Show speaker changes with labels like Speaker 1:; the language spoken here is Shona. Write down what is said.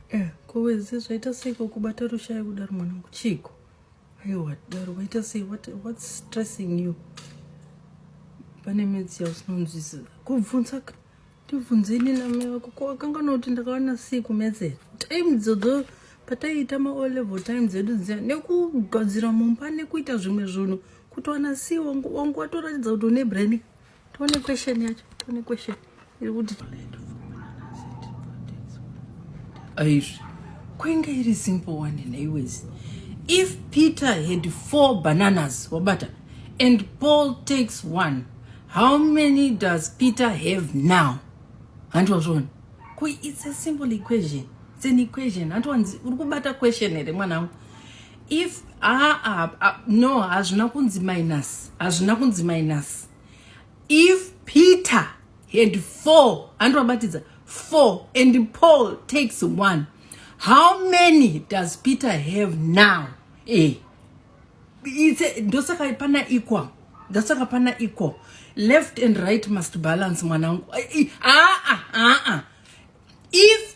Speaker 1: Eh, kowezi zvaita seiko kubata rushaya kudaro mwanangu chiiko aiwa daro waita sei what, what's stressing you pane midzi yausinonzwisisa kubvunza tibvunzeni namai vako ko akangana kuti ndakawana sei kumedzera time dzodzo pataiita maall level time dzedu dziya nekugadzira mumba nekuita zvimwe zvinhu kutowana sei wangu watoratidza kuti une brain Tone question yacho, tone question. Iri kuti Aizvi. Kwenge iri simple one neiwezi. If Peter had four bananas, wabata, and Paul takes one, how many does Peter have now? Hanti wazvona. Ko it's a simple equation. It's an equation. Hanti wanzi uri kubata question here mwanangu? if ah, ah, ah, no hazvina kunzi minus hazvina kunzi minus if peter had four andivabatidza four and paul takes one how many does peter have now eh ndosaka pana equal ndosaka pana equal left and right must balance mwanangu aa ah, ah, ah, ah, ah. if